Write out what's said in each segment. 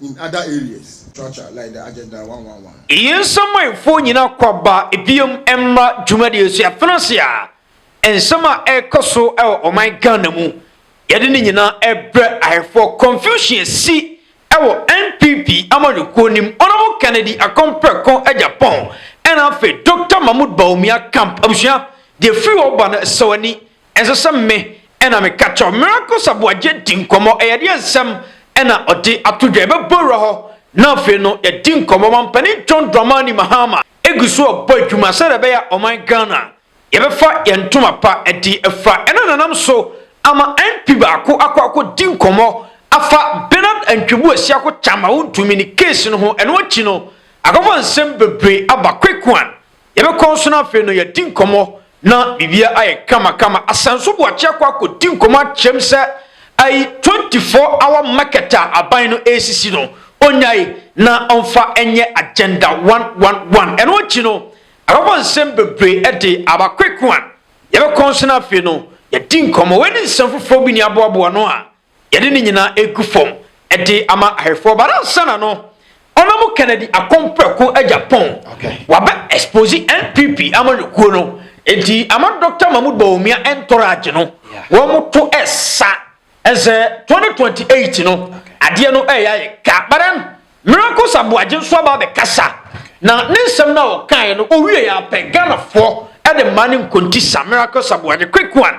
in other areas tra tra like the agenda one one one. Yɛn nsamanfoɔ nyinaa kɔ aba biom mmra dwumadie so yɛafena ase a nsɛm a ɛrekɔ so wɔ ɔman Ghana mu yɛde ne nyinaa rebrɛ ahɛfoɔ confusion asi wɔ NPP amanyɔkuo nim Honourable Kennedy Akon Preko Agyapong ɛna afei Doctor Mahmood Bawumia camp abusua deɛ firi hɔ ba no ɛsɛ w'ani Ɛnsɛ sɛ me na meka kyerɛ wo. Miracles Aboagye di nkɔmmɔ. Ɛyɛdeɛ nsɛm na ɔde ato dwa. Yɛbɛbɔ wura hɔ na afei no yɛadi nkɔmmɔ. Mampanin John Dramani Mahama gu so rebɔ adwuma sɛdeɛ ɛbɛyɛ a ɔman Ghana yɛbɛfa yɛn ntoma pa de afira. Ɛno na ɛnam so ama MP baako akɔ akɔdi nkɔmmɔ afa Bernard Antwibu Asiako Kyama Wontumi ne case no ho. Ɛno akyi no, akɔfa nsɛm bebree aba. Quick One Yɛbɛkɔ nso na afei no yɛadi nkɔmmɔ na biribiara ayɛ kamakama. Asan nso Boakye akɔ akɔdi nkɔmmɔ akyerɛ mu sɛ ayi 24 hour market a aban no resisi no, ɔnnyae na ɔmfa nyɛ agenda one one one. Ɛno akyi no, ababɔ nsɛm bebree de aba Kwek Wan. Yɛbɛkɔ nso na afei no yɛadi nkɔmmɔ. Wei ne nsɛm foforɔ bi ne aboaboa ano a Yɛde ne nyinaa regu fam de ama ahwɛfoɔ but ansana no ɔnam Kennedy akɔm prɛko agya pɔn wabɛ expose NPP amanyɔkuo no enti ama Dr. Mahmoud Bawumia ntɔrɔ agye no wɔn to ɛsa ɛsɛ 2028 no adeɛ no ɛyɛ ayɛ ka but then Miracles Aboagye nso aba abɛkasa na ne nsɛm no a ɔkaeɛ no ɔwie yɛ apɛ Ghanafoɔ ɛde mmaa ne nkonti sa Miracles Aboagye quick one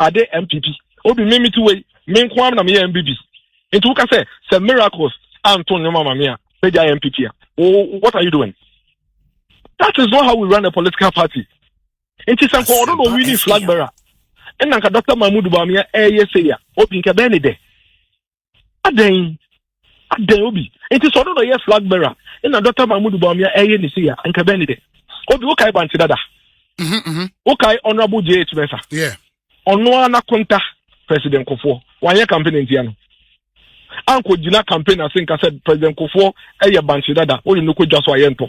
ade mpp obi me mete wei me nko ara na meyɛ mpp nti woka sɛ sɛ miracles anto nneɛma ma me a mɛgya mpp a what are you doing that is not how we run a political party nti sɛ nkɔ ɔno na ɔwi ne flag bearer ɛna nka dr mahmud bamia ɛyɛ sɛ ya obi nka bɛɛ ne dɛ adɛn adɛn obi nti sɛ ɔno na ɔyɛ flag bearer ɛna dɔkta mahmud bawumia ɛyɛ ne sei a nka bɛn ne dɛ obi wokae bante dada mhm, mhm. wokae honorable jh mɛsa ɔno ara n'akonta president kofoɔ wanyɛ campaign ntia no ankɔ gyina campaign ase nka sɛ president kofoɔ ɛyɛ bante dada wɔde no kɔ dwa so a yɛntɔ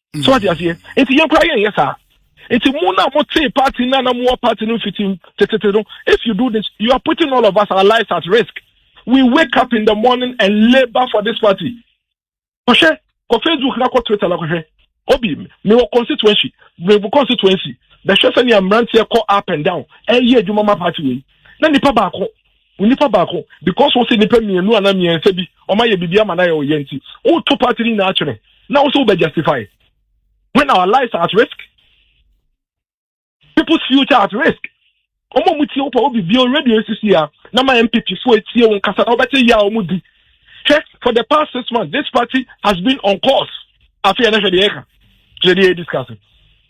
mm. so ɔte aseɛ nti yɛn koraa yɛnyɛ saa nti mu na mo tee party na na mo wɔ party no mfiti tetete no if you do this you are putting all of us our lives at risk we wake up in the morning and labour for this party kɔhwɛ kɔ facebook na kɔ twitter na kɔhwɛ obi mi wɔ constituency mi wɔ constituency bɛhwɛ sɛ nea mmeranteɛ kɔ up and down ɛyɛ adwuma ma party wei na nipa baako Onipa baako because wose nipa mmienu ana mmiɛnsa bi ɔma yɛ bibi ama na yɛ ɔyɛ nti woto party ni na atwene na wose wobɛ justify when our lives are at risk people's future at risk ɔmo ɔmo tie wopɛ obi bio radio sisi ya na ma MPP fo etie wo nkasa na wobɛte ya ɔmo di hwɛ for the past six months this party has been on course afei ɛnɛ hwɛ deɛ ɛka kyerɛ deɛ yɛ discussing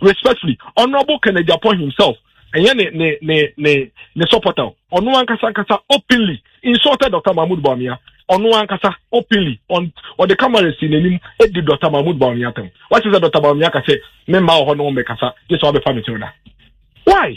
respectfully honourable kennedy apɔ himself ɛnyɛ ne ne ne ne ne supporter ɔno ankasa ankasa openly insulted dr mahmood bawumia ɔno ankasa openly on ɔde camera si n'anim edi dr mahmood bawumia tɛm wɔakyɛ sɛ dr bawumia ka sɛ me mma wɔ hɔ na wɔn bɛkasa gye sɛ wɔabɛfa me kyɛw da why.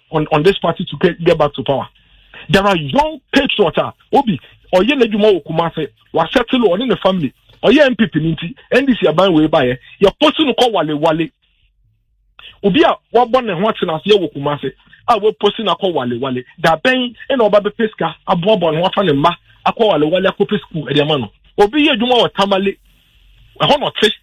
on, on this party to get, get back to power. There are young patriots a obi ɔyɛ n'adwuma wɔ Kumase wasɛtele ɔne ne family ɔyɛ NPP ne nti NDC aban wei baeɛ yɛposi no kɔ wale wale obi a wabɔ ne ho atena aseɛ wɔ Kumase a waposi no akɔ wale wale da bɛn ɛna ɔba bɛpɛ sika aboaboa ne ho afa ne mma akɔ wale wale akɔpɛ sukuu ɛde ama no obi yɛ adwuma wɔ Tamale ɛhɔ na ɔte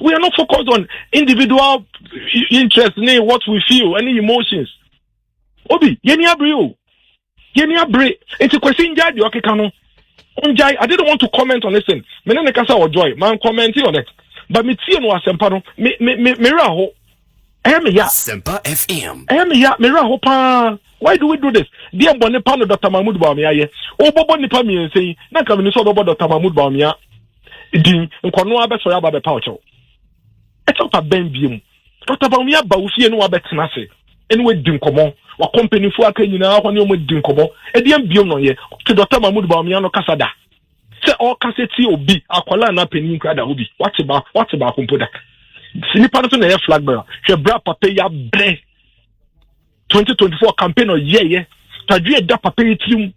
we are not focused on individual interest ne what we feel ɛne emotions obi yɛni abere o yɛni abere nti kwasi ngya deɛ ɔkeka no ngya i didn't want to comment on this thing me ne ne kasa wɔ joy man commenting on it but me tie no asɛmpa no me me me me werɛ aho Ɛyɛ me ya. Sempa FM. Ɛyɛ me ya, me werɛ ho paa. Why do we do this? Deɛ bɔne pa no Dr. Mahmoud Bawumia ayɛ. Wobɔbɔ nipa mmiɛnsa yi, na nka mene sɛ wobɛbɔ Dr. Mahmoud Bawumia din. Nkɔno abɛsɔre aba bɛpa ɔkyɛw. Ɛkyɛw pa bɛn bie mu. Dr. Bawumia ba wo fie ne wabɛtena ase. Ɛne wadi nkɔmmɔ. Wakɔ mpanimfoɔ aka nyinaa hɔ ne wɔn adi nkɔmmɔ. Ɛdeɛn biom na ɔyɛ? Wote Dr. Mahmoud Bawumia no kasa da? Sɛ ɔrekasa tie obi, akwadaa anaa panin koraa da hɔ bi, wate ba, wate baako mpo da. Nipa no nso na ɛyɛ flag bearer. Hwɛ bra papa yi abrɛ 2024 campaign ɔyɛɛyɛ. Tadwe da papa yi tirim.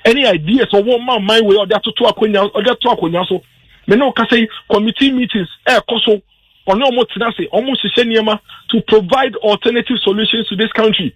Ɛne ideas ɔwɔ ma man wei ɔde atoto akonya, ɔde ato akonya so. Me ne ɔkasa yi, committee meetings ɛrekɔ eh, so. Ɔne ɔmo tena ase, ɔmo hyehyɛ nneɛma to provide alternative solutions to this country.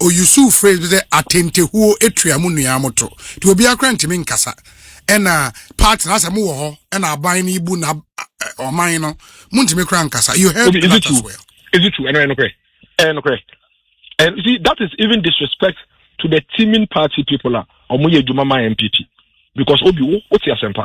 Ɔusuu phrase bi sɛ atentehuo tua mo nua mo to nti obiara koraa ntumi nkasa ɛna party no asɛ mo wɔ hɔ ɛna aban no bu na ɔman no mo ntumi koraa nkasa you heard that as well. Is it true? Ɛno ɛno korɛ ɛno korɛ and you see that is even disrespect to the teaming party people a wɔn yɛ adwuma ma NPP because obi wo wo te asɛmpa.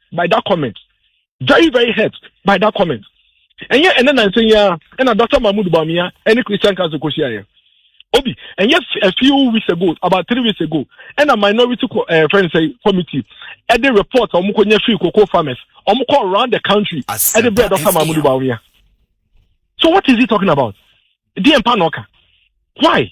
by that comment very very hurt by that comment ɛnyɛ ɛnɛ nansan yi ara ɛna dr mahmood bawumia ɛne christian council kɔ hyia yɛ obi ɛnyɛ a few weeks ago about three weeks ago ɛna minority co ɛɛ eh, fɛn sɛ committee ɛde report wɔn kɔ nyɛ free cocoa farmers wɔn kɔ around the country ɛde bɛ dr mahmood bawumia so what is he talking about deɛ mpa na ɔka why.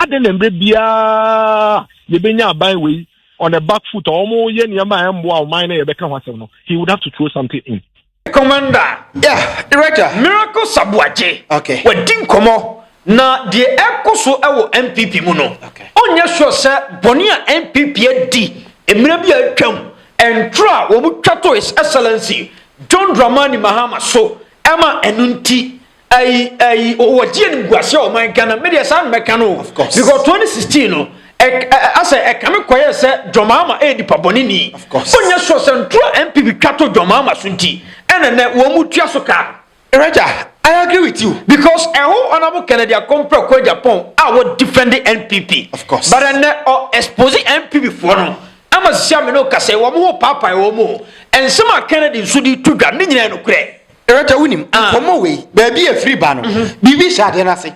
Adɛn na mmerɛ biara yɛbɛnya aban wei on a back foot a wɔyɛ nneɛma a ɛmmoa ɔman na yɛbɛka ho asɛm no he would have to throw something in. Commander. Yeah, Director. Miracle Sabuagye. Okay. Wadi nkɔmmɔ na deɛ ɛrekɔ so wɔ NPP mu no, ɔnyɛ sure sɛ bɔne a NPP adi mmerɛ bi a atwam, ntorɔ a wɔtwa to His Excellency John Dramani Mahama so ma ɛno nti ayi ayi wɔgye animguase a ɔman ghana me deɛ saa na mɛka no o because 2016 no asɛ ɛkame kɔyɛ sɛ dwɔmaama ɛyɛ nipa bɔne ni onyɛ soɔ sɛ ntoro a mpp twa to dwɔmaama so nti ɛna nɛ wɔn mu tua so kaa no Raja, I agree with you. Because a whole honorable Kennedy Akompre kɔ Japan a wɔ defend NPP. Of course. But ɛnɛ ɔ expose NPP foɔ no ama sisi amene o kasa wɔn ho paapae wɔn mu o. Nsɛm a Kennedy nso de to dwa ne nyinaa nokorɛ. Rɛkyɛ wonim ah. nkɔmmɔ wei baabi a ɛfiri ba no mhm. biribi hyɛ adeɛ no ase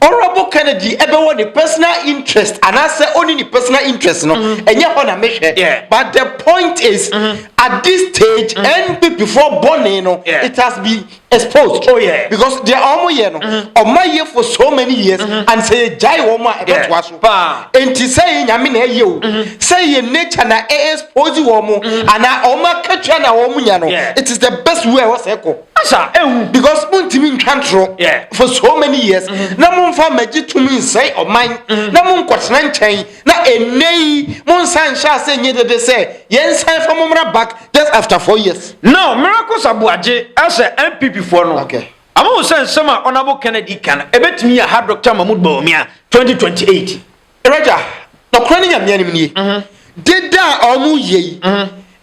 honorable eh. kennedy ɛbɛwɔ ne personal interest anaasɛ ɔni ne personal interest no mhm. ɛnyɛ hɔ na mehwɛ but the point is mhm. at this stage npp foɔ bɔne no it has been exposed oh, because deɛ ɔmo yɛ no ɔma yɛ for so many years and sɛ yɛgyae wɔn a ɛbɛtoa so paa. Enti sɛ yɛ nyame na ɛyɛ o, mm-hmm. sɛ yɛ nature na ɛ expose wɔn mo, mm-hmm. ana wɔn akatua na wɔn nya no, it is the best way ɛwɔ sɛ ɛkɔ. Asa ehu. Because mo ntumi ntwa ntoro for so many years mm-hmm. na mo nfa mɛgye tumi nsɛn ɔman na mo nkɔtena nkyɛn na ɛnɛ yi mo nsa nhyɛ ase nye dede sɛ yɛn nsan fa mo mmra back just after four years. Now miracle sabuagye ɛsɛ NPP foɔ no. Okay. Ama wo sɛ nsɛm a Honourable Kennedy ka no ɛbɛtumi aha Doctor Mahmood Bawumia 2028. Raja, nɔkorɛ ne Nyame anim nie, deda a wɔn yɛ yi,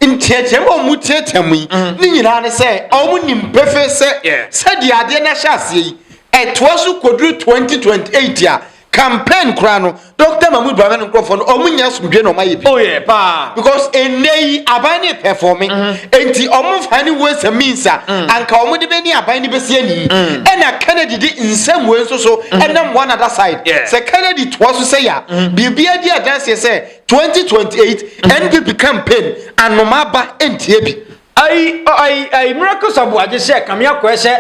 nteateam a wɔn teateam yi, ne nyinaa ne sɛ wɔn nim pefee sɛ sɛdeɛ adeɛ no ahyɛ aseɛ yi, ɛtoa so kɔduru 2028 a, Campaign koraa no Doctor Mahmood Bawumia no nkurɔfoɔ no ɔmo nya asomdwe na ɔmo ayɛ bi. Oh yeah paa. Because ennɛ yi aban no repɛfɔme mm-hmm. enti ɔmo nfa ne ways and means a mm. anka ɔmo de bɛni aban no bɛsi ani yi mm. ɛna Kennedy de nsɛm wei nso so mm-hmm. ɛnam one other side sɛ Kennedy toa so sɛ ya mm-hmm. biribi adi adanseɛ sɛ 2028 NPP campaign anoma aba ntie bi. Ayi ayi ayi miracle sabu agye sɛ kame akɔɛ sɛ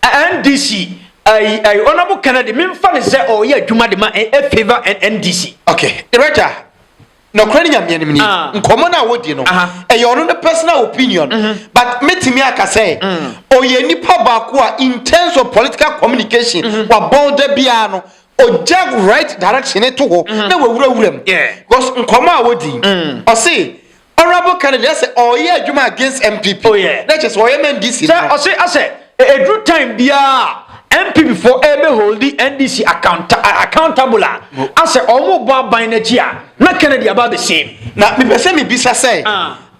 NDC ayi ayi honourable Kennedy memfa ne sɛ ɔyɛ adwuma de ma ɛ favour NDC. ok director nɔkorɛ ne nyameɛ nim ni ah. nkɔmmɔ no a wɔdi no ɛyɛ ɔno ne personal opinion mm-hmm. but metumi aka sɛ mm. ɔyɛ nipa baako a in terms of political communication mm-hmm. wabɔn da biara no ɔgya right direction to hɔ mm-hmm. na wawurawura mu because nkɔmmɔ a wɔdi mm. ɔse Honourable Kennedy ɛsɛ ɔyɛ adwuma against NPP. Oh yeah. N'ɛkyɛ sɛ ɔyɛ ma NDC. Sɛ ɔsɛ asɛ ɛduru time biara NPP fo ɛbɛ holdi NDC accountable a asɛ ɔmo bɔ aban n'akyi a na Kennedy aba abɛsiem. Na mepɛ sɛ mebisa sɛ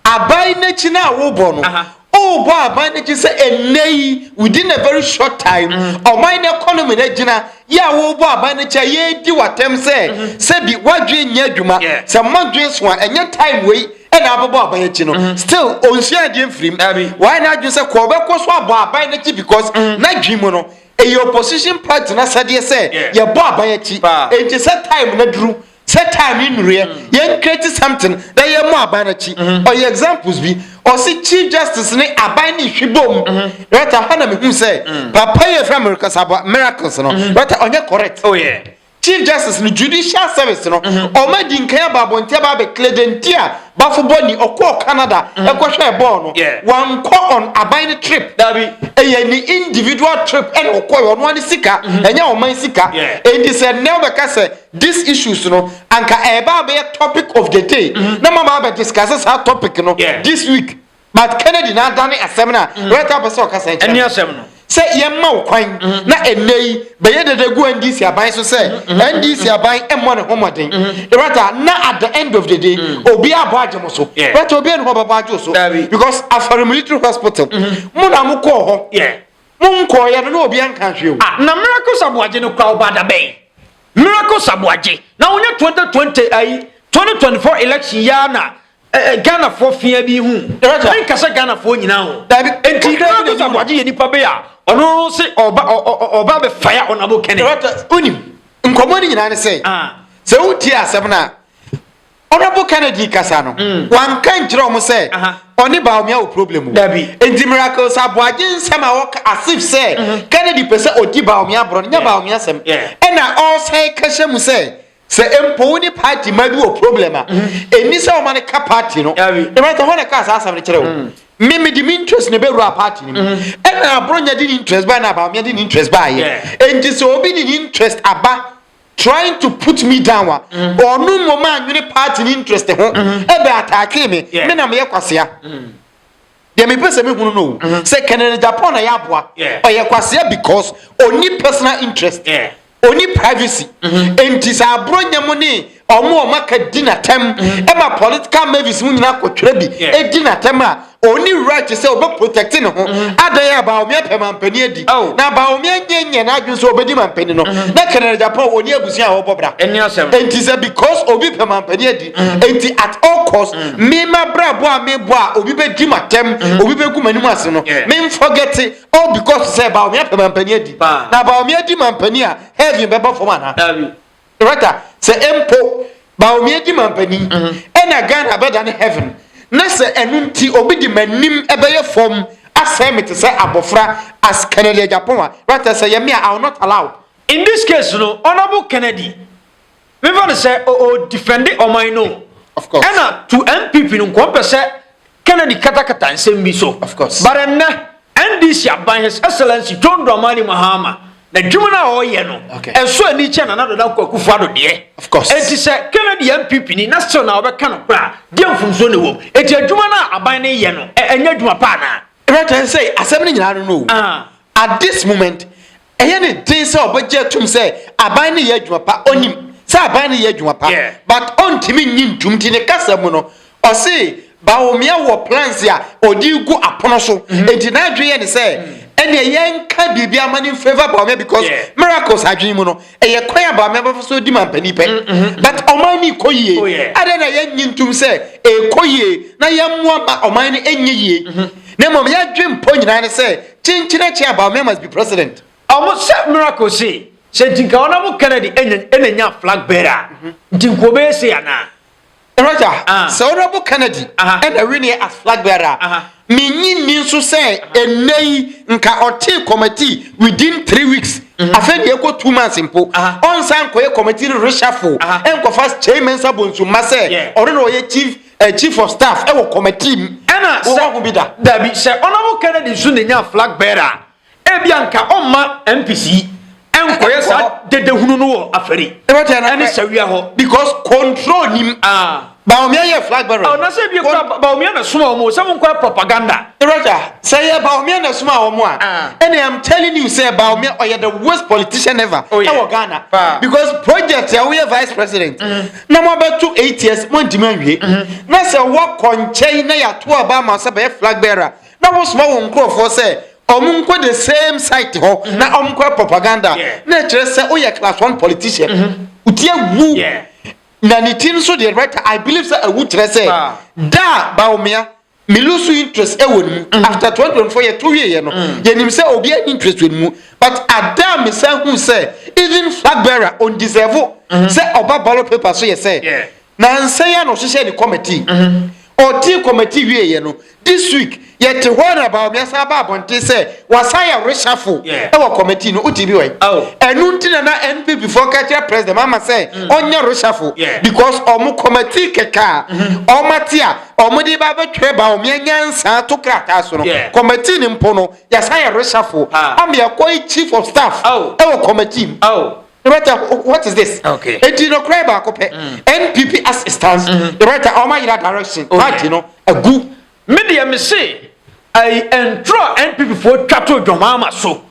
aban n'akyi no a wobɔ no Wobɔ aban no gye sɛ ɛnnɛ yi within a very short time ɔman no economy no agyina yɛ a wobɔ aban no kyɛ yɛredi w'atɛm sɛ sɛbi w'adwene nyɛ adwuma sɛ mmɔdwene so a ɛnyɛ time wei ɛna abɛbɔ aban akyi no still ɔnsua adeɛ mfirim wayɛ n'adwene sɛ kɔ ɔbɛkɔ so abɔ aban no akyi because n'adwene mu no ɛyɛ opposition party no asɛdeɛ sɛ yɛbɔ aban akyi enti sɛ time no aduru Sɛ time yi nnuruiɛ yɛn create something na yɛn mɔ aban n'akyi. Ɔyɛ examples bi ɔse chief justice ne aban ne hwi bom right a hɔ na me hu sɛ papa yi efra miracles aba miracles no right a ɔnyɛ correct. Oh yeah. Chief justice no judicial service no ɔmo adi nkan aba abɔnten aba abɛ clear deɛ nti a bafo bɔ ni ɔkɔɔ Canada ɛkɔ hwɛɛ bɔɔl no wan kɔ on aban no trip dabi ɛyɛ ne individual trip ɛna ɔkɔɛ ɔno ara ne sika ɛnyɛ ɔman sika enti sɛ nnɛ wobɛka sɛ These issues no anka ɛreba abɛyɛ topic of the day na maba abɛ discuss saa topic no this week but Kennedy na adane asɛm no a right now pɛ sɛ ɔkasa yi kyerɛ asɛm no sɛ yɛmma wo kwan na ɛnnɛ yi bɛyɛ dada gu NDC aban so sɛ NDC aban mmɔ ne ho mmɔden right a na at the end of the day obi abɔ agye mo so right obi ɛne hɔ bɛbɔ agye so because Afari Military Hospital mo na mo kɔɔ hɔ Mo nkɔɔ yɛ no na obia nkaa hwee o. Ah na miracles aboagye no kora ɔbaa dabɛn miracles aboagye na ɔnyɛ 2020 ayi 2024 election yi ara na eh, eh, Ghana foɔ fia bi hu me nka sɛ Ghana foɔ nyinaa ho nti miracles aboagye yɛ nipa bɛyɛ a ɔno se ɔba ɔba bɛ fire ɔna bɔ kɛnɛ. Onim nkɔmɔ ni nyinaa ne sɛ ah. sɛ wotie asɛm no a. Honourable Kennedy kasa no wanka nkyerɛ wɔn sɛ ɔne Bawumia wɔ problem o. Nti Miracles Aboagye nsɛm a wɔka as if sɛ mm-hmm. Kennedy pɛ sɛ ɔdi Bawumia borɔ no nyɛ Bawumia sɛm. Ɛna ɔsan ka hyɛ mu sɛ sɛ mpo wo ne party ma bi wɔ problem a ɛni mm-hmm. sɛ ɔma no ka party no. Ɛbɛtɔ hɔ na ɛka saa asɛm no kyerɛ wo. Mm. Me me de me interest na ɛbɛwura party no mu. Mm-hmm. Ɛna Aboronya de ne interest baa na Bawumia de ne interest baa yɛ. Nti sɛ obi de ne interest aba trying to put me down a mm-hmm. ɔno mmom anwene party ne interest ho mm-hmm. ɛbɛ ataakee me me na meyɛ kwasea mm-hmm. deɛ mepɛ sɛ mehunu no sɛ kɛnɛdɛ japan na yɛ aboa ɔyɛ kwasea because ɔni personal interest ɔni privacy enti sɛ aborɔ nyɛ mu ne ɔmo ɔmo aka di n'atɛm ɛma political mavis mu nyinaa kɔtwerɛ bi ɛdi n'atɛm a ɔni right sɛ ɔbɛ protect ne ho mm-hmm. adan a baawomia pɛ mampanin adi oh. na baawomia nyɛ nyɛ n'adwene sɛ ɔbɛdi mampanin no mm-hmm. na kɛnɛrɛ japan ɔni abusua a ɔbɔ bra nti sɛ because obi pɛ mampanin adi mm-hmm. nti at all cost mema brabɔ a mebɔ a obi bɛdi ma tɛm obi bɛgu m'anim ase no memfɔgɛte all oh, because sɛ baawomia pɛ mampanin adi na baawomia di mampanin a heaven bɛbɔ fam anaa Wata sɛ mpo Bawumia di manpanin ɛna Ghana bɛdane heaven na sɛ ɛno nti obi de manim ɛbɛyɛ fam asɛe me te sɛ abɔfra as Kennedy Agyapong a wata sɛ ɛyɛ me a I will not allow. In this case no Honourable Kennedy memfa no sɛ ɔdefende ɔman no o ɛna to NPP no nko ɔmpɛ sɛ Kennedy katakata nsɛm bi so. Of course. But ɛnnɛ, NDC aban His Excellency John Dramani Mahama n'adwuma no a ɔreyɛ no, okay. ɛso ani kyɛ Nana Dada Nko Akufo Addo deɛ. Of course. Eti sɛ Kennedy yɛ NPP ni na still na ɔbɛka no koraa, deɛ mfomsoɔ na ɛwɔ mu. Eti adwuma no a aban no reyɛ no, ɛnyɛ adwuma paa naa. Ɛbɛtɛn sɛ asɛm no nyinaa no no. Uh. At this moment, ɛyɛ ne den sɛ ɔbɛgye atum sɛ aban no yɛ adwuma pa ɔnim sɛ aban no yɛ adwuma pa but ɔntumi nyi ntum nti ne kasa mu no ɔse Bawumia wɔ plans a ɔde gu apono so mhm. nti n'adwene yɛ ne sɛ ɛnna ɛyɛ nka biribi ama ne nfɛva Bawumia because miracles adwene mu no ɛyɛ kwan a Bawumia bɛfa so di mampanin pɛ mm, mm, mm. but ɔman no kɔ yie oh, adɛn na yɛnyi ntum sɛ ɛkɔ yie na yɛmmoa ma ɔman no ɛnyɛ yie mhm. na mmom yɛadwe mpɔ nyinaa ne sɛ Kyenkyen akyi a Bawumia must be president. Ɔmo sɛ miracle sei sɛ nti nka ɔnam Kennedy ɛnya ɛna nya flag bearer a nti nka ɔbɛyɛ sei anaa. Roger, sɛ Honorable Kennedy ɛna winie as flag bearer a, menyi nni nso sɛ ɛnɛ yi nka ɔtee committee within three weeks afei deɛ ɛkɔ two months mpo ɔnsan nkɔyɛ committee no reshuffle ɛnkɔfa Kyei Mensah Bonsu mma sɛ ɔno na ɔyɛ chief A chief of staff ɛwɔ kɔmɛtii mu. Ɛna sɛ dabi sɛ ɔnabɔ Kennedy nso na enya flag bearer a, ebi anka ɔmma MPC ɛnkɔyɛ saa dede hunu no wɔ afɛri ɛne sawia hɔ because control nim aa. Bawumia yɛ flag bearer. Ɔ na sɛ ebi ekura Bawumia na suma wɔn o sɛ mo nkɔyɛ propaganda. Roger sɛ yɛ Bawumia na suma wɔn a ɛna I'm telling you sɛ Bawumia ɔyɛ the worst politician ever ɛwɔ Ghana because project a woyɛ vice president. na moabɛto eight years moantumi anwie na sɛ woakɔ nkyɛn na yɛato aba ama sɛ bɛyɛ flag bearer na wosoma wo nkurɔfoɔ sɛ ɔmo nkɔ the same site hɔ mm-hmm. na ɔmo kɔ propaganda na ɛkyerɛ sɛ woyɛ class one politician mm-hmm. wotie awu na ne ti nso deɛ right i believe sɛ awu kyerɛ sɛ da a baomea me lose interest ɛwɔ ne mu mm. after twenty twenty four yɛ to wie yɛ no mm. yɛ nim sɛ obi ɛni interest wɔ ne mu but ada mi san hu sɛ even flag bearer on deserve mm-hmm. sɛ ɔba ballot paper so yɛ sɛ na nsɛn yɛ na ɔhyehyɛ ne committee mm-hmm. ɔdi committee wie yɛ no this week yɛ te hɔ na baabi asan aba abɔnten sɛ wasan yɛ reshuffle ɛwɔ committee no o ti bi wɔ yi oh. ɛnu ti na na npp fɔ kɛkyɛ president ama sɛ mm. ɔnyɛ reshuffle because ɔmo committee kɛkɛ a mm-hmm. ɔmo ati a. Wɔde ba abɛtwerɛ ba wɔn anyansa to krataa so no, yeah. kɔmɛtii no mpo no yɛsan yɛ resafo ama yɛkɔ yi chief of staff oh. ɛwɔ oh. kɔmɛtii mu. Oh. Director, what is this? Okay. And you know, cry back up. Mm. NPP assistance. Mm-hmm. Director, all my direction. Okay. Right, you know, a good. Media, me say, I entrust NPP for Chateau Jomama so.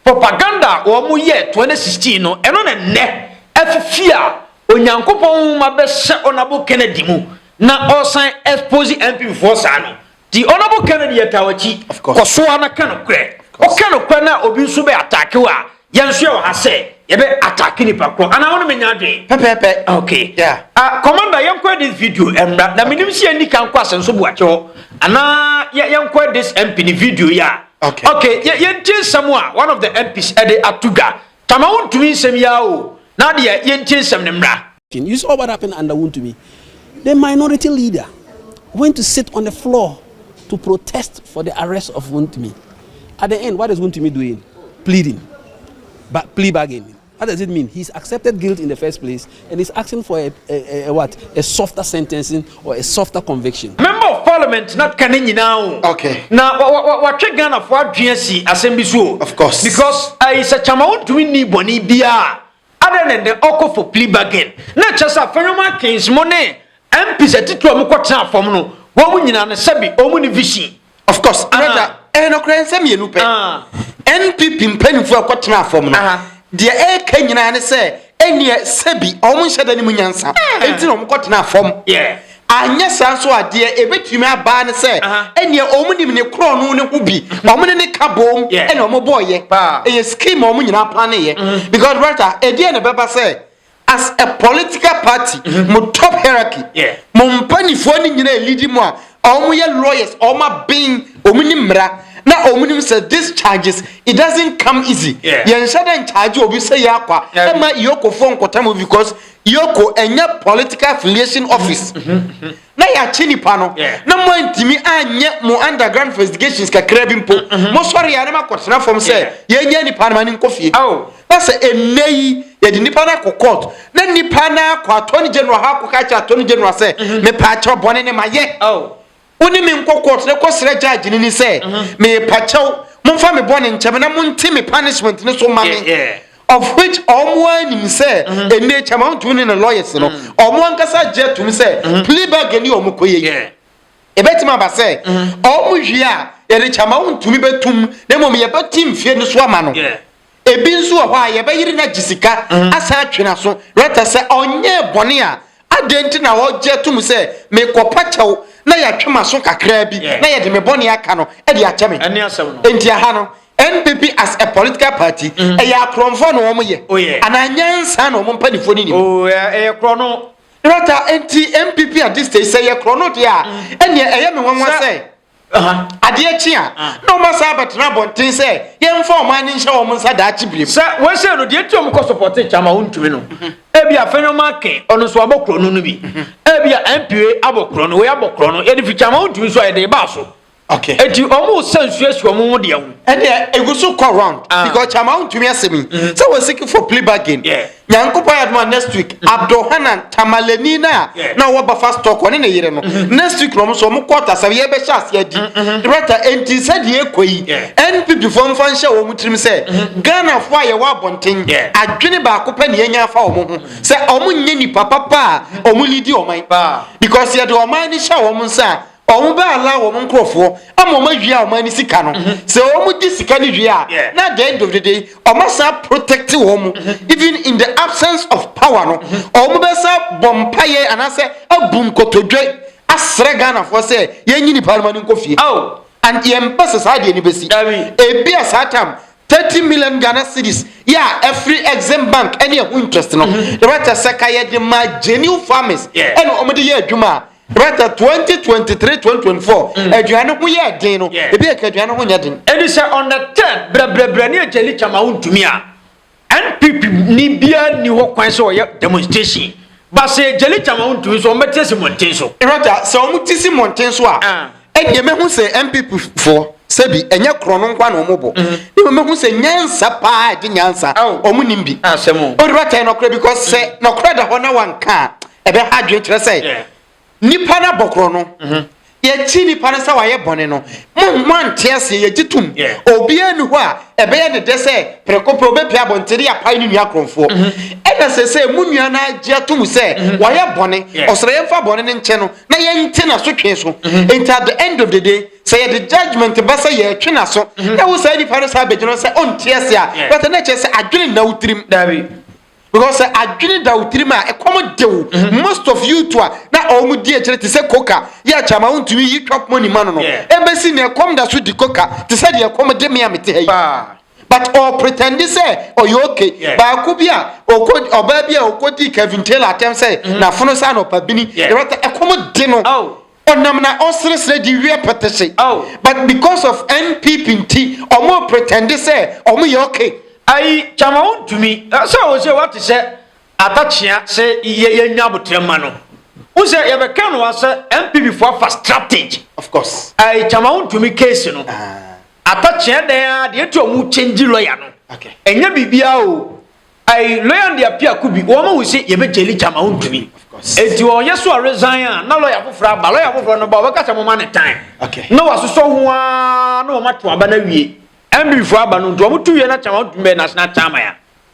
Propaganda a wɔyɛɛ 2016 no, ɛno na nnɛ afi fie a Onyankopɔn Nwoma bɛhyɛ Honourable Kennedy mu na ɔresan expose MP foɔ saa no. Nti Honourable Kennedy yɛtaa w'akyi, kɔ so ara na ka nokorɛ. Woka nokorɛ no a obi nso bɛ attack wo a, yɛn nso yɛwɔ ha sɛ yɛbɛ attack nipa korɔ. Anaa wo ne me nyɛ adwene? Pɛpɛɛpɛ. Ok. Yeah. Ah, Commander, yɛnkɔɛ this video mmra. Na menim sɛ yɛnni kan nkɔ Asɛnso Boakyɛ hɔ. Anaa yɛnkɔɛ this MP ne video yi a. Ok. Ok, yɛ yɛntie nsɛm a one of the MPs ɛde ato dwa. Tama wontumi nsɛm yi ara o, na deɛ yɛntie nsɛm no mmra. You saw what happened under Wontumi? The minority leader went to sit on the floor to protest for the arrest of Wontumi. At the end, what is Wontumi doing? Pleading. Ba plea bargaining. What does it mean he's accepted guilt in the first place and is asking for a, a, a, a what a softer sentencing or a softer conviction. Member of parliament na ka ne nyinaa o. Okay. Na watwe Ghana fo adwene asi asɛm bi so o. Of course. Because ayi sɛ kyama wontumi nni bɔne biara other than the ɔkɔ for plea bargain na kyɛ sɛ afɛnwoma kens mo ne MPs atitiri a wɔkɔtena fam no wɔn nyinaa no sɛbi wɔn ne vision. of course brother ɛyɛ eh, nokorɛ nsɛm mmienu pɛ npp mpanimfoɔ a ɛkɔtena afam no deɛ ɛreka nyinaa ne sɛ ɛneɛ sɛbi ɔmo nhyɛ da ne mu nyansa ɛnti na ɔmo kɔtena afam anyɛ saa nso a deɛ ɛbɛtumi abaa ne sɛ ɛneɛ ɔmo nim ne korɔ no ne ho bi ɔmo ne ne ka boom ɛne ɔmo bɔɔyɛ ɛyɛ scheme ɔmo nyinaa pa ne yɛ because brother ɛdeɛ na ɛbɛba sɛ as a political party mm -hmm. mo top hierarchy yeah. mo mpanimfoɔ no nyinaa lidi mu a wɔn yɛ lawyers wɔn aben wɔn ni mmara na wɔn nim sɛ this charges it doesn't come easy yɛn nhyɛ dɛ nkyagye obi sɛ yɛ akwa ɛma iyokofoɔ nkɔta mu because iyoko ɛnyɛ political affiliation office. Mm -hmm. Mm -hmm. na yɛakye nipa no na moantumi anyɛ mo underground investigations kakra bi mpo mm, mm-hmm. mosɔre yɛ a na makɔtena fam sɛ yɛnya nipa no ma ne nkɔ fie oh. na sɛ ɛnnɛ yi yɛde nipa no akɔ court na nipa no akɔ attorney general ha akɔka kyerɛ attorney general sɛ mm-hmm. mepaakyɛw bɔne ne mayɛ oh. wo ne me nkɔ court na kɔsrɛ judge no ni sɛ mm-hmm. mepakyɛw momfa me bɔne nkyɛm na monte me punishment no so ma me Of which wɔn ara nim sɛ ɛnnɛ Chairman Wontumi ne ne lawyers no, wɔn ankasa agye atom sɛ plea bargain ne wɔn kɔyɛ yi. Ɛbɛtumi aba sɛ wɔn wie a yɛde Chairman Wontumi bɛtom na mmom yɛbɛte mfeɛ no so ama no. Ebi nso wɔ hɔ a yɛbɛyere no agye sika asan atwe n'aso rɛtɛ sɛ ɔnyɛɛ bɔne a Adɛn nti na wɔgye atom sɛ mekɔpa kyɛw na yɛatwe m'aso kakraa bi na yɛde me bɔne aka no de akyɛ me? Enti ɛha no, NPP as a political party, mm. ɛyɛ akorɔmfoɔ na wɔn yɛ oh, anaa nyansa na wɔn mpanimfoɔ no nim? Oh, ɛyɛ korɔ no. Rata, enti NPP at this stage sɛ yɛ korɔ no deɛ a, mm. ɛnneɛ ɛyɛ me nwanwa sɛ Adeɛ kye a, na wɔasan abɛtena abɔnten sɛ yɛmfa wɔn ani nhyɛ wɔn nsa daakye birim. Sɛ wɔhyɛ no, deɛ nti a wɔkɔ sɔpɔte Kyama a ɔntumi no, ebi a Fenyo Makin, ɔno nso abɔ korɔ no no bi. Ebi a MPA abɔ korɔ no, wei abɔ korɔ no, yɛde fi Kyama a ɔntumi nso a yɛde baa so. Okay. Eti ɔmo sa nsuo si ɔmo ho deɛ ho. Ɛnna egu so kɔ round. Ah. Because Kyama a ɔntumi asɛm yi. Mm-hmm. Sɛ wɔn sikifo plea bargain. Yeah. Nyankopɔn ayɛ adom a next week mm-hmm. Abdulhanan Tamalani na na ɔwɔ Bafa stock ɔne ne yere no mm-hmm. next week na ɔmo so ɔmo kɔ ɔtasɛm yɛbɛhyɛ ase adi mm-hmm. director enti sɛdeɛ ekɔ yi NPP fo nfa nhyɛ wɔn tirim sɛ Ghana fo a yɛwɔ abɔnten adwene baako pɛ na yɛnya afa wɔn ho sɛ ɔmo nyɛ nipa papa a ɔmo lidi ɔman because yɛde ɔman ne hyɛ wɔn nsa a wɔn bɛala wɔn nkurɔfoɔ ama wɔn awie a wɔn ani sika no mhm. sɛ wɔn gye sika no wie a na at the end of the day wɔn asan protect wɔn mu mhm. even in the absence of power no mhm. wɔn bɛsa bɔ mpaeɛ anaasɛ abu nkotodwe asrɛ ghanafoɔ sɛ yɛnyi nipa no ma no nkɔ fie oh. and yɛn mpɛ sɛ saa deɛ no bɛsi ebi a saa tam thirty million ghana cedis yɛ a ɛfiri exim bank ɛne ɛho interest no ɛbɛtɛ sɛ ka yɛde ma genuine farmers ɛna wɔn de yɛ adwuma a. Bertha, 2023 2024 aduane ho yɛ den no ebi yɛ ka aduane ho nyɛ den. Ɛne sɛ on the third brɛbrɛbrɛ ne agyali kyama wontumi a NPP ni biara nni hɔ kwan sɛ ɔyɛ demonstration ba sɛ agyali kyama wontumi so ɔmbɛte si mmɔnten so. Bertha, sɛ ɔmo te si mmɔnten so a ɛnneɛ mɛhu sɛ npp foɔ sɛbi ɛnyɛ korɔ no nkwa na wɔn bɔ mhm. ne mu mɛhu sɛ nyansa paa ɛgye nyansa wɔn nim bi ah, wɔde bɛtɛn nɔkorɛ bi kɔs sɛ mhm. nɔkorɛ da hɔ na wanka a ɛbɛha adwene kyerɛ sɛ nipa no abɔ korɔ no mhm. yɛkyi nipa no sɛ wayɛ bɔne no mo ante aseɛ yɛgye tom obiara ni hɔ a ɛbɛyɛ ne dɛ sɛ prɛko pɛ obɛpia abɔnten de apae ne nua korɔmfoɔ ɛna sɛ sɛ mo nua no agye atom sɛ wayɛ bɔne ɔsrɛ yɛmfa bɔne no nkyɛ no na yɛnte n'asotwe so mhm. nti at the end of the day sɛ yɛde judgement ba sɛ yɛtwe n'aso mhm. na wo saa nipa no saa bɛgyina sɛ ɔnte ase a bɛtɛ na kyerɛ sɛ adwene nna wo tirim because sɛ adwene da wo tirim a ɛkɔm de wo mhm. most of you to a na ɔmo di akyire te sɛ koka yɛ akyama wontumi yi twap mɔni ma no no ɛbɛsi ne ɛkɔm da so di koka te sɛ deɛ ɛkɔm de me a mete ha yi but ɔ pretend sɛ ɔyɛ okay yeah. baako bi a ɔkɔ ɔbaa bi a ɔkɔ di Kevin Taylor atɛm sɛ mm -hmm. n'afono sɛ anɔpa bini yeah. yɛrɛ ta ɛkɔm di no oh. ɔnam na ɔseresere di wiɛ pɛtɛhyɛ oh. but because of NPP nti ɔmo pretend sɛ ɔmo yɛ okay. ayi kyama wo ntumi sɛ ɔwɔ sɛ wate sɛ Atakyea sɛ yɛ yɛ nya abotrɛ ma no wo sɛ yɛ bɛ kɛ no wa sɛ NPP fo afa strategy of course ɛɛ kyama wo ntumi case no atakyea dɛn a deɛ ɛti ɔmo change lawyer no ɛnyɛ biribi a o ɛɛ lawyer deɛ apia ko bi wɔn wo sɛ yɛ bɛ jeli kyama wo ntumi ɛti wɔn yɛ so a resign a na lawyer foforɔ aba lawyer foforɔ no ba wɔn kasa mo ma ne tan na wɔn asosɔ ho aa na wɔn ato aba na wie NPP fo aba no nti wɔn to wie na kyama wo ntumi bɛ na asena kyama ya.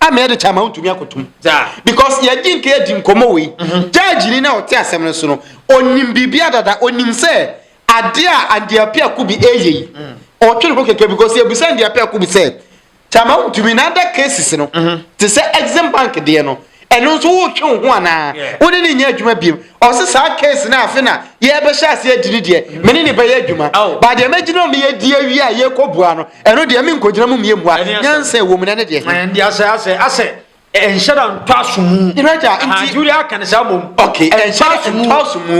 ama yɛde kyɛ ama wontumi akotom because yɛgye nka yɛdi nkɔmmɔ wei gyagyini mhm. no a ɔte asɛm no so no ɔnim biribi adada ɔnim sɛ adeɛ a andeape ako bi ɛyɛ yi mm. ɔtwe ne ho kɛkɛ because yɛbusa andeape ako bi sɛ kyama wontumi na ada cases no mhm. te sɛ exim bank deɛ no ɛno nso wotwe wo ho anaa wode ne nyɛ adwuma biom ɔse saa case no afe na yɛbɛhyɛ ase adi ne deɛ mene ne bɛyɛ adwuma ba deɛ mɛgyina meyɛ di awie a yɛkɔbua no Ɛno deɛ menkɔgyina mu mmie mmua nyansa ɛwɔ mu na ɛne deɛ. Ɛnde asɛ asɛ asɛ ɛnhyɛ da ntɔ aso mu. Iraja nti juri aka ne saa mom. Okay ɛnhyɛ da ntɔ aso mu.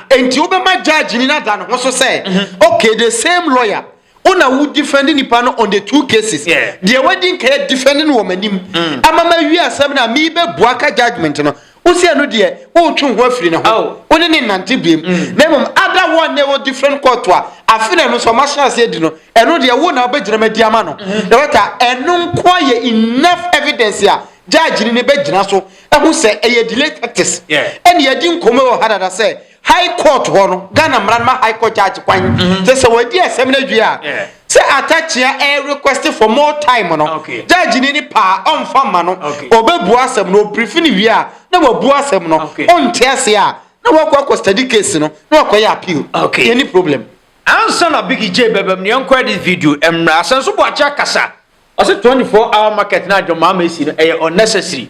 Nti wobɛma judge ni na da ne ho so sɛ mhm. okay the same lawyer wona wo defend nipa no on the two cases deɛ wadi nkɛyɛ defend no wɔ m'anim mm. ama ma wie asɛm no a mebɛbua ka judgment no Wo sɛ ɛno deɛ woretwe wo ho afiri ne ho, wo ne ne nnante biam, na mmom ada hɔ a na ɛwɔ different court a, afe na ɛno nso ɔma hyɛ aseɛ di no, ɛno deɛ wo na wobɛgyina ma di ama no. Loretta, ɛno nko ara yɛ enough evidence a judge no ne bɛgyina so ahu sɛ ɛyɛ delay tactics. Ɛne yɛadi nkɔmmɔ wɔ ha dada sɛ High court hɔ no, Ghana mmara no ma high court judge kwan sɛ sɛ wɔadi asɛm no awie a, sɛ Atakyea request for more time no, judge ni no pɛ a, ɔmfa mma no, ɔbɛbua asɛm no, ɔbrief no wie a, na wabua asɛm no, ɔnte aseɛ a, na wakɔ akɔ study case no, na wakɔyɛ appeal. Yɛnni problem. Ansa na Biggie Jay bɛbam no, yɛnkɔ edit video mmra. Asɛnso Boakye akasa. Ɔse 24 hour market no a John Mahama asi no, ɛyɛ unnecessary.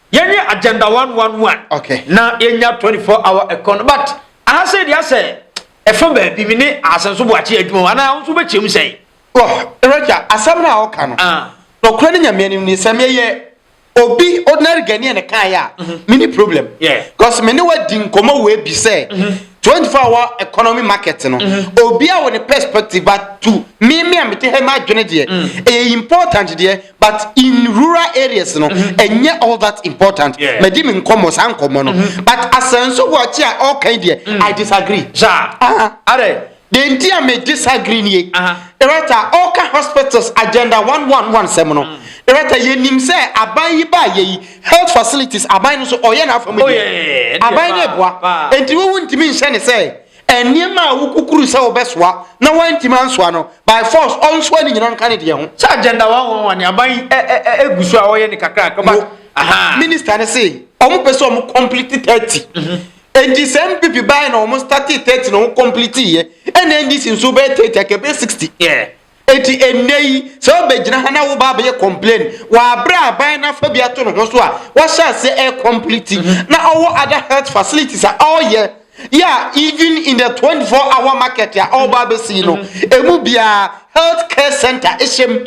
Yɛnyɛ agenda one one one. Okay. Na yɛnya twenty four hour ɛkɔ no but aha sɛ deɛ asɛ ɛfa baabi mi ne asɛnso boakye adwuma wɔn anaa nso bɛkyɛm sɛn. Wɔ rɛgya asɛm no a ɔka no. Ah. Nɔkorɛ ne nyamea nim ne sɛ meyɛ obi ordinary Ghanaian ne kan yɛ a mhm. me ne problem. Yeah. Because me ne wa di nkɔmɔ wɔ ebi sɛ. Mhm. twenty four hour economy market no mhm. obi a wɔ ne perspective but to me me a me te ha ma adwene deɛ ɛyɛ important deɛ. but in rural areas no ɛnyɛ all that important madi me nkɔmmɔ saa nkɔmmɔ no mm-hmm. but asɛnso wɔakyi a ɔkan deɛ mm. i disagree saa adɛ deɛ nti a me disagree nie ɛrɛta ɔka hospitals agenda 111 sɛm no ɛrɛta mm. yɛnim sɛ aban yi baa yɛyi health facilities aban no so ɔyɛ n'afa mu oh, deɛ aban no ɛboa enti wowu ntumi nhyɛ ne sɛ Nneɛma a wokukuru sɛ wobɛsoa na woantumi ansoa no, by force ɔnsoa ne nyina nka ne deɛ ho. Sɛ agenda one one one aban yi gu so a ɔyɛ ne kakra kakra but ahaa. Minister no se wɔn pɛ sɛ wɔn complete thirty nti sɛ NPP bae na wɔn startee thirty na wɔn completeeɛ ɛna NDC nso bɛyɛ thirty anka ɛbɛyɛ sixty. Yeah. Enti ɛnnɛ yi, sɛ wobɛgyina ha na wo ba abɛyɛ complain wɔ aberɛ a aban no afa bi ato ne ho so a wahyɛ aseɛ air complete na ɔwɔ other health facilities a ɔreyɛ yɛ a even in the 24 hour market a ɔreba abɛsi no, ɛmu biara health care centre hyɛm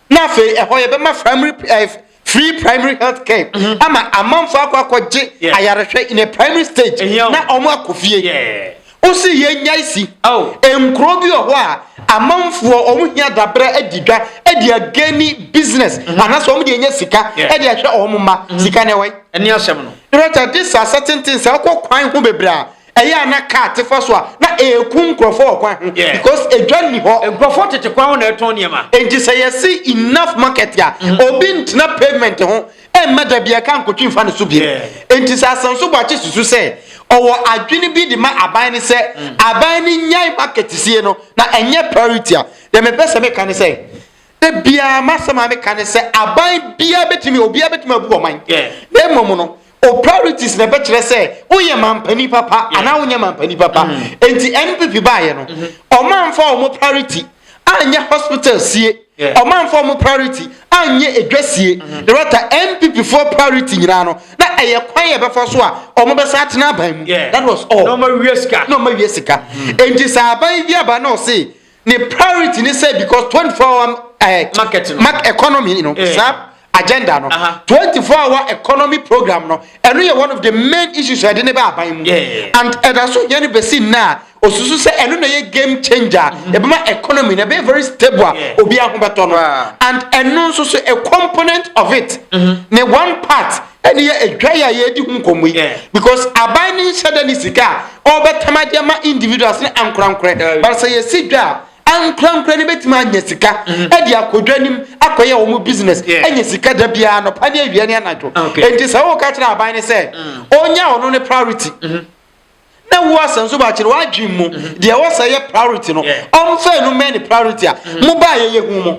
na afei ɛhɔ yɛbɛma primary eh, free primary health care mm-hmm. ama amanfo akɔ akɔgye ayarehwɛ in a primary stage na wɔn akɔ fie wosi yɛ nya esi oh. nkuro bi wɔ hɔ a amanfoɔ wɔn hia dabrɛ adi dwa ɛdi agani business mm-hmm. anaasɛ wɔn deɛ nya sika ɛdi ahwɛ wɔn mma mm-hmm. sika na ɛwɔ yi. ɛni asɛm no. rɛta de sa asɛtenten sɛ ɔkɔ kwan ho bebree a. Ɛyɛ a na car te fa so a na ɛreku nkurɔfoɔ wɔ kwan ho because edwa nni hɔ. Nkurɔfoɔ tete kwan ho na ɛretɔn nneɛma. Enti sɛ yɛse enough market a, obi ntena pavement ho mma da biara car nkotwi mfa ne so bio. Enti sɛ Asanso Boakye susu sɛ ɔwɔ adwene bi de ma aban no sɛ aban no nnyae market sie no na ɛnyɛ priority a, deɛ mepɛ sɛ meka ne sɛ, Da biara m'asɛm a meka ne sɛ aban biara betumi obiara betumi abu ɔman. Na mmom no, o priorities na ɛbɛkyerɛ sɛ woyɛ mampanin papa anaa wonyɛ mampanin papa. Mm. Enti NPP baayɛ no, ɔmanfa mm-hmm. wɔn priority anyɛ hospital sie. Yeah. ɔmanfa wɔn priority anyɛ edwa sie. Mm-hmm. Na wɔta NPP foɔ priority nyinaa no na ɛyɛ kwan yɛ bɛfa so a wɔn bɛsa atena aban mu. That was all. Na wɔn awie sika. Na wɔn awie sika. Mm-hmm. Enti sɛ aban bi aba na ɔse. Ne priority ne sɛ because twenty four hour ɛɛ eh, market no mark economy no eh. saa agenda no twenty four hour economy program no ɛno yɛ one of the main issues ɛde ne bɛ aban mu and ɛda so yɛn no bɛsi nna osusu sɛ ɛno na yɛ game changer mm-hmm. ɛbɛma economy na ɛbɛyɛ very stable a obi ahobɛtɔ no and ɛno nso so a component of it mm-hmm. ne one part Ɛne yɛ adwa yi a yɛredi ho nkɔmmɔ yi because aban no nhyɛ da ne sika a ɔrebɛtam ade ama individuals ne ankorankorɛ eh. but sɛ yɛsi dwa a ankorankorɛ no bɛtumi anya sika mm. ɛde akɔdwa nim akɔyɛ wɔn business anya sika da biara nɔpa ne awia ne anadwo enti sɛ woka kyerɛ aban no sɛ mm. ɔnya ɔno ne priority mm-hmm. na wo asɛm so baakyerɛ w'adwene mu mhm. deɛ ɛwɔ sɛ yɛ priority no ɔmfa no mɛ ne priority a mhm. mobaa yɛyɛ hu mu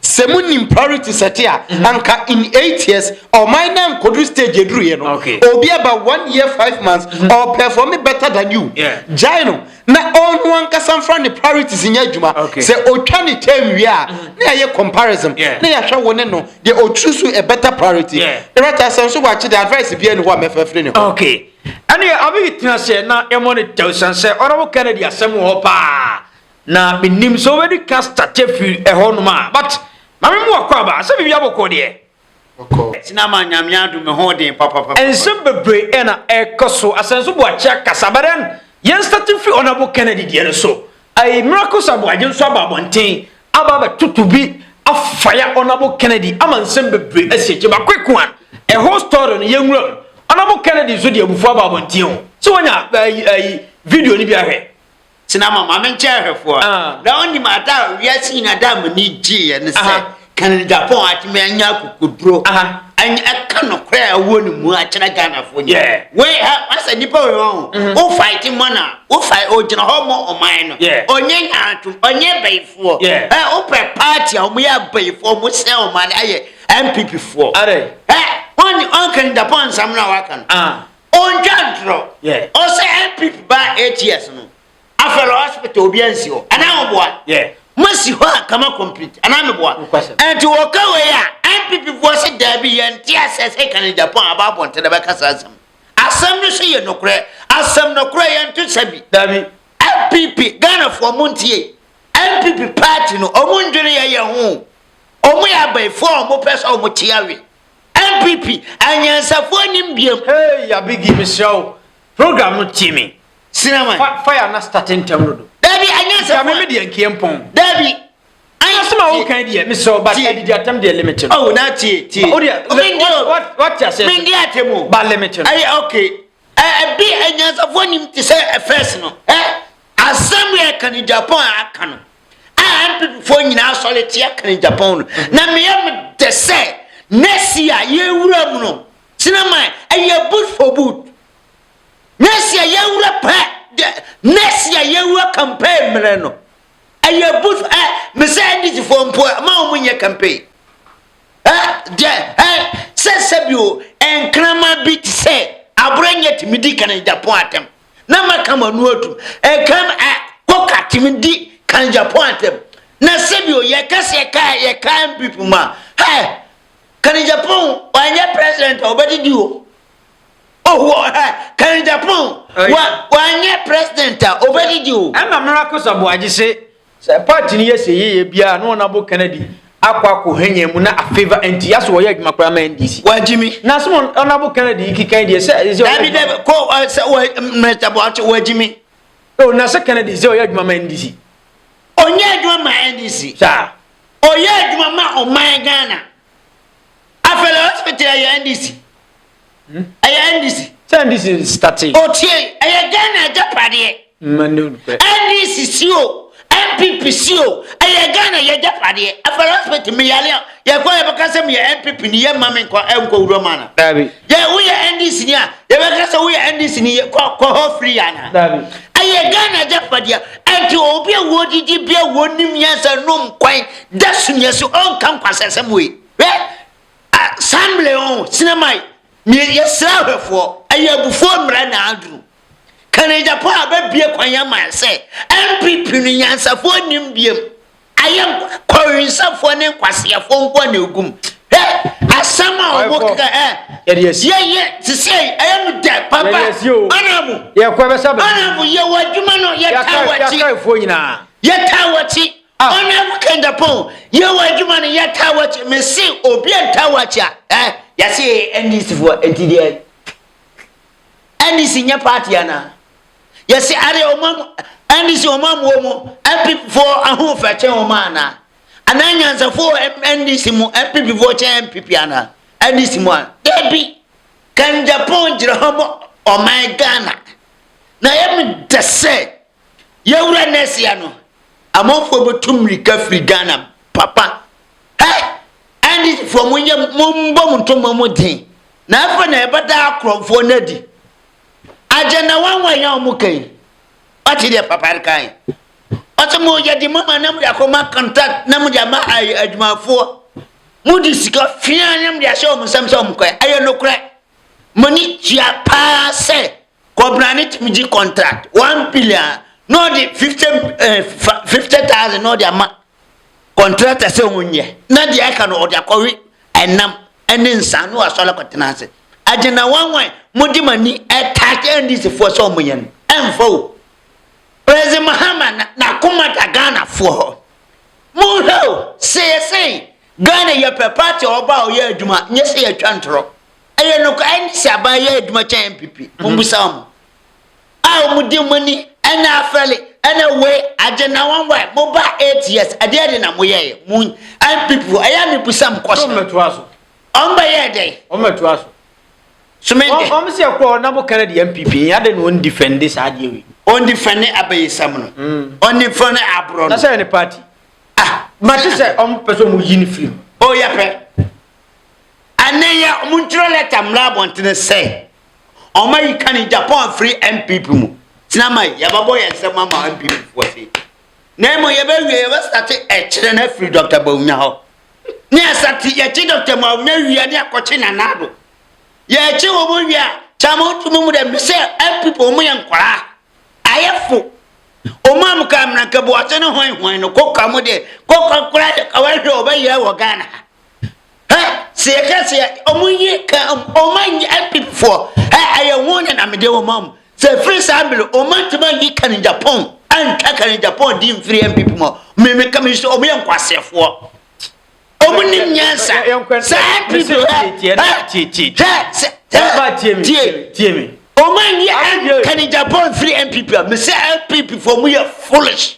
sɛ monim priority sɛte a mhm. anka in eight years ɔman na nkɔduru stage ɛduruiɛ no obi aba one year five months ɔperforme better than you gyae no na ɔno ankasa mfa ne priorities nyɛ adwuma sɛ ɔtwa ne term wie a na yɛyɛ comparison na yɛahwɛ wo ne no deɛ ɔturu so a better priority ɛrɛta sɛ nso wɔakye de advice bia ne hɔ a mɛfɛfiri ne hɔ Ɛnneɛ Abiy tena ase na yɛmmɔ no tɛw ɛsiane sɛ ɔne wo Kennedy asɛm wɔ hɔ paa na mennim sɛ wobɛdi ka start afiri ɛhɔ nom a but ma me mmoa kɔ aba sɛ biribiara bɔkɔɔ deɛ. Tena ma Nyame adom me ho den papapapa. Nsɛm bebree na ɛkɔ so. Asɛnso Boakye akasa but then yɛn start mfiri Honourable Kennedy deɛ no so. Ayi Miracles Aboagye nso aba abɔnten aba abɛtoto bi afaya Ɔnabo Kennedy ama nsɛm bebree asi akyire baako eko a ɛho story no yɛnwura mu Ɔnabo Kennedy nso de abufuo aba abɔnten o sɛ wanya ayi ayi video no bi ahwɛ tena ma maame nkyɛn ahwɛfoɔ Ah. na wonim ada a wiase nyina da a m'ani gyeeɛ ne sɛ Aha. Kennedy Agyapong atumi anya akokoduro Aha. anya ɛka nokorɛ a ɛwɔ ne mu akyerɛ Ghanafoɔ nyina Yeah. wei ha asɛ nnipa wei wɔ ho wo fight mmɔ no a Wo fae ogyina hɔ mɔ ɔman no yeah. Ɔnyɛ nyantom ɔnyɛ bayifoɔ yeah. eh, Wopɛ party a wɔyɛ abayifoɔ wɔn sɛ ɔman no ayɛ MPP foɔ eh, Ɔnye ɔnka ne dapɔn nsɛm no a waka no ah. Ɔntwa ntorɔ yeah. Ɔsɛ MPP baa eight years no Afɛlɛ hospital obi ansi hɔ anaa wɔboa yeah. Masi hɔ a kama complete anaa meboa Ɛnti wɔka wei a MPP foɔ sɛ daabi yɛnte asɛ sɛ ka ne dapɔn aba abɔnten na bɛka saa asɛm Asɛm no so yɛ nokorɛ. Asɛm nokorɛ yɛ nto sɛ bi. Dabi. NPP Ghanafoɔ mo ntie NPP party no ɔmo ndwene yɛ yɛ ho ɔmo yɛ abayifoɔ a ɔmo pɛ sɛ ɔmo te awe NPP anyansafoɔ nim biam. Hey Yabigi mesrɛ wo program no tie me Sinaman. fa fire na starte ntɛm dodo. Dabi anyansafoɔ. Nka me me deɛ nkeɛ mpɔn. Dabi Ayi, asɛm a woka yi deɛ mesrɛ wo ba adidi atɛm deɛ limit no oh na tie tie o deɛ wate aseɛ mendi atɛm o ba limit no ayi ok ɛbi eh, eh, anyansafoɔ nim te sɛ eh, first no ɛ asɛm yɛ ka ne japan a aka no a mpepefoɔ nyinaa sɔre te aka ne japan no na meyɛ medɛ sɛ nɛsi a yɛwura mu no sinama ɛyɛ boot for boot nɛsi a yɛwura pɛ nɛsi a yɛwura campaign mmerɛ no Ɛyɛ bus ɛ mesɛ NDC foɔ mpo ɛ ma wɔn nyɛ campaign ɛ deɛ ɛ sɛ sɛbi o nkrama bi te sɛ abura nyɛ tumi di kan Japan atɛm na ma kama ano atum ɛkam ɛ kɔka tumi di kan Japan atɛm na sɛbi o yɛ kasi ɛka yɛ ka MPP ma ɛ kan Japan wɔnyɛ president a wɔbɛdidi o. Ɔwɔ ha, kan Japan. Wa, wanyɛ president a, ɔbɛgyegye o. Ɛna Mira Kosa Boagye se, sɛ party no yɛ se yeye biara na wɔn abo Kennedy akɔ akɔ hɛnyɛn mu na afavour NTI so wɔyɛ adwuma koraa ma NDC. Wagye mi. Na se wɔn wɔn abo Kennedy yi keka yi deɛ sɛ ɛsɛ ɔyɛ. Dabi dabi, kɔ ɔ, sɛ wɔ, Mr Boakye, wagye mi. Oh, na se Kennedy sɛ ɔyɛ adwuma ma NDC. Ɔnyɛ adwuma ma NDC. Saa. Ɔyɛ adwuma ma ɔman Ghana. Afei lɛ hospital ɛyɛ NDC. Hmm? Ɛyɛ NDC. Sɛ NDC starte. Otie ɛyɛ Ghana agyapadeɛ. NDC si o NPP si o ɛyɛ Ghana yɛ agyapadeɛ. Afei lɛ hospital mi yale a yɛkɔ yɛbɛka sɛ mi yɛ NPP ni yɛ mma mi nkɔ ɛnkɔ wura mu ana. Daabi. Yɛ woyɛ NDC ni a yɛbɛka sɛ woyɛ NDC ni yɛ kɔ kɔ hɔ firi ana. Daabi. Ɛyɛ Ghana agyapadeɛ ɛnti obi a wɔdidi bi a wɔnim yɛn sɛ nom kwan da sumiɛ so ɔnka nkwasɛsɛm wei hwɛ asamble o sinamai mie yɛsrɛ ahwɛfoɔ ɛyɛ abufoɔ mmerɛ na aduru kanegyapɔ a bɛbie kwan ama sɛ mpp no nyansafoɔ nnim biem ayɛ kɔwensafoɔ ne nkwaseafoɔ nko a na ɛgum hwɛ asɛm a ɔmo keka ɛ yɛyɛ te sɛ ɛyɛ no dɛ papa ɔnabo ɔnabo yɛwɔ adwuma no yɛtaa wɔkye yɛtaa wɔkye A. Ɔne wo kɛnda pon, yɛ wɔ adwuma no yɛ taa wakyi, me se obi a ntaa wakyi a, eh. Yɛse yɛyɛ NDC foɔ, nti deɛ NDC nyɛ party anaa? Yɛse adeɛ ɔmo amu, NDC ɔmo amu ɔmo NPP foɔ ahoɔfɛ kyɛn ɔmo anaa? Anaa nyansafo wɔ NDC mu NPP foɔ kyɛn NPP anaa? NDC mu a, dabi, kɛnda pon gyina hɔ ma ɔman Ghana, na yɛ me dɛ sɛ, Yɛwura nɛsia no amanfoɔ bɛtu mmirika firi Ghana papa hɛ NDC foɔ mo nyɛ mo mbɔ mo ntoma mo den na ɛfɛ na ɛbɛda akorɔmfoɔ no adi agenda wanwa yɛn ɔmo kan wate deɛ papa kan ɔte mo yɛ de mama na mo de akɔma contact na mo de ama adwumafoɔ mo de sika fia na mo de ahyɛ ɔmo nsɛm sɛ ɔmo kɔɛ ɛyɛ nokorɛ mo ani tua paa sɛ Kɔbena ne tim gye contract one billion na ɔde fifty eh, fifty thousand na ɔde ama contractor sɛ wɔn nyɛ na deɛ aka no ɔde akɔwe ɛnam ɛne nsa na wasɔre akɔtena ase agyina wanwan mo de mo ani ɛtaakye ndisifoɔ sɛ wɔn yɛ no ɛnfa o president mahama na n'akoma da ghanafoɔ hɔ mo hwɛ o sɛ yɛ sɛn ghana yɛ pɛ party ɔba a ɔyɛ adwuma nyɛ sɛ yɛtwa ntorɔ. Ɛyɛ nokware NDC aban yɛ adwuma kyɛn NPP mommisa wɔn a wɔn di mo ani ɛna afɛle ɛna wei agye na wɔn wae mo ba eight years ɛdeɛ de na mo yɛ yɛ mo NPP fo ɛyɛ mi busa mo kɔsɛ wɔn bɛtoa so wɔn bɛ yɛ dɛ wɔn bɛtoa so sumende wɔn si ɛkɔ na mo kɛnɛ de NPP yɛ ade na wɔn difɛnde saa adeɛ wei wɔn difɛnde abɛyisam no mm. wɔn difɛnde aborɔ no na sɛ yɛ ne party ah mɛ sɛ wɔn pɛ sɛ wɔn yi ne firi mu o yɛ pɛ. Ɛnneyɛ wɔntwerɛ lɛta mmra abɔntene sɛ wɔayi Kani Japan afiri NPP mu. Tena ma yi, yɛbɛbɔ yɛn nsam ama NPP foɔ sei. Na mmom yɛbɛwie yɛbɛstate ɛkyerɛ no afiri Dr. Bawumia hɔ. Ne yɛsate yɛkye Dr. Bawumia wie a ne yɛakɔkye Nana Addo. Yɛkye wɔn wie a kyɛ ama wotumi mu dɛ mesɛ NPP wɔn yɛ nkwaraa. Ayɛfo. Wɔn a mokaa mmeranka buase no hwan hwan no kɔka mo deɛ kɔka koraa yɛ ka wɔahwɛ wɔbɛyɛ wɔ Ghana ha. Hɛ, sɛ yɛka sɛ wɔn yi ka wɔn anyi apipifoɔ, hɛ, ɛyɛ wɔn na na mede wɔn am. Sɛ ɛfiri saa bere wɔn antumi anyi Karen Japan antwa Karen Japan di mfiri MPP mu. Mmemme ka mi so wɔn yɛ nkwaseɛfoɔ. Wɔn nim nyansa. Saa MPP hɛ, hɛ, hɛ, sɛ, hɛ, tie, tie mi. Wɔn anyi Karen Japan mfiri MPP a, mesɛ MPP foɔ wɔn yɛ foolish.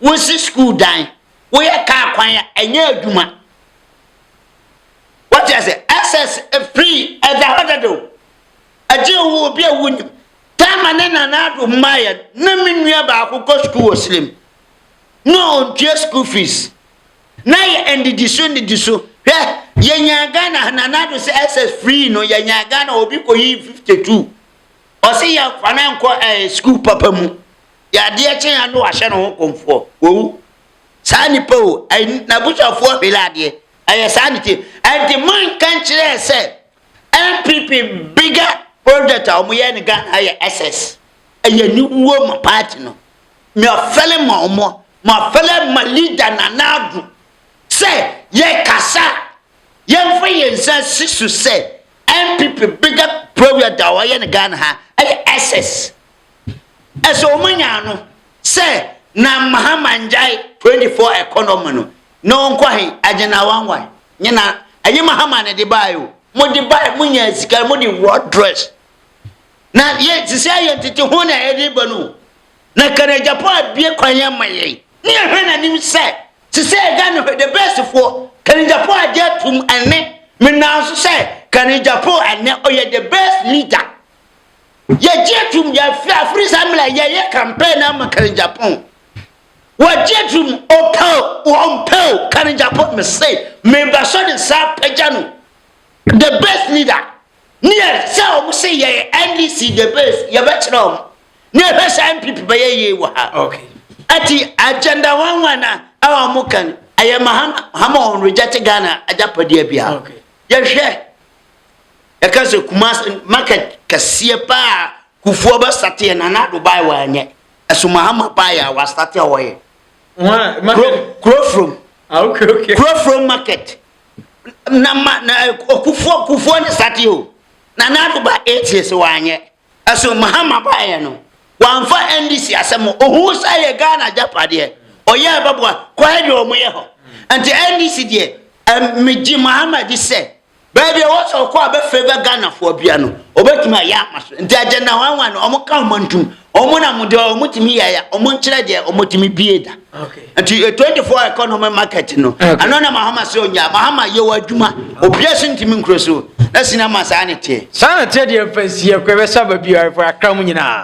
wosi sukuu dan woyɛ kaa kwan a ɛnyɛ adwuma wɔte ase ɛsɛs free ɛda hɔ dada o ɛgye wo obi a wonim taama ne nana ado mmaeɛ na me nua baako kɔ sukuu wɔ silim na ɔntua sukuu fees na yɛ ndidi so ndidi so hwɛ yɛnya ghana nana ado sɛ ɛsɛs free no yɛnya ghana obi kɔyi 52 ɔse yɛmfa no nkɔ ɛɛ eh, sukuu papa mu deɛ adeɛ kye a na wahyɛ ne ho kɔmfoɔ wawu saa nipa o n'abusuafoɔ hwele adeɛ ɛyɛ saa ne tie ɛnti manka nkyerɛɛ sɛ npp bigger project a wɔyɛ no ghana ayɛ ss ɛyɛ aniwuo ma party no meɔfɛle ma ɔmɔ mafɛle ma leader nana ado sɛ yɛkasa yɛmfa yɛn nsa si so sɛ npp bigger project a wɔyɛ no ghana ha ɛyɛ ss Ɛsɛ ɔmo nya ano sɛ Nana Mahama ngyae 24 economy no na ɔnkɔ ahe? Agyenawa why? Nye na ɛnye Mahama na ɛde bae o. Mo de bae mo nyaa sika mo de wɔ dress. Na yɛ sisi ayɛ ntete ho na ɛde ba no. Na ka na Japan abie kwan yɛ ma yɛn. Ne yɛ hwɛ na nim sɛ sisi ayɛ Ghana hwɛ the best foɔ ka na Japan agye atum ɛne me nanso sɛ ka na Japan ɛnɛ ɔyɛ the best leader. Yɛgye atum yɛafiri afiri saa mmerɛ a yɛyɛ campaign no ama Karen Gyapong. Wɔgye atum ɔpɛ o wɔmpɛ o Karen Gyapong mese meba so de nsa apagya no the best leader ne yɛ sɛ wɔn se yɛyɛ NDC the best yɛbɛkyerɛ wɔn ne yɛhwɛ sɛ NPP bɛyɛ yie wɔ ha. Okay. Ati agenda wɔn wɔn a ɛwɔ wɔn kan ɛyɛ mahama wɔn reject Ghana agyapadeɛ bia. Okay. Yɛhwɛ. Ɛka sɛ Kumase market kɛseɛ paa a Kufuor bɛstarteɛ Nana Addo baeɛ wanyɛ. Ɛso Mahama baeɛ a wastarteɛ hɔ yɛ. Hwan? Market? Kurofrom. Ah, okay, okay. Kurofrom market. Na ma na Kufuor Kufuor ne starteɛ o. Nana Addo ba eight years wanyɛ. So Mahama baeɛ no wamfa NDC asɛm ho? Ohuu sɛ ɛyɛ Ghana agyapadeɛ, ɔyɛɛ bɛboa, kwae deɛ wɔn yɛ hɔ. Nti NDC deɛ ɛm megye Mahama di sɛ baabi a ɛwɔ sɛ ɔkɔ a bɛ favour Ghanafoɔ bia no ɔbɛtumi ayɛ ama so. Nti agenda hwanwan no wɔn ka wɔn ntom, wɔn na wɔn deɛ wɔn tumi yɛeɛ, wɔn nkyerɛ deɛ wɔn tumi bie da. nti yɛ 24 economy market no ɛno na mahama sɛ ɔnya mahama yɛ wɔ adwuma obia so ntimi nkuro so na sina ma saa ne teɛ saa na teɛ deɛ mfa nsiɛ kɔ ɛbɛsa ba biara fo akra mu nyinaa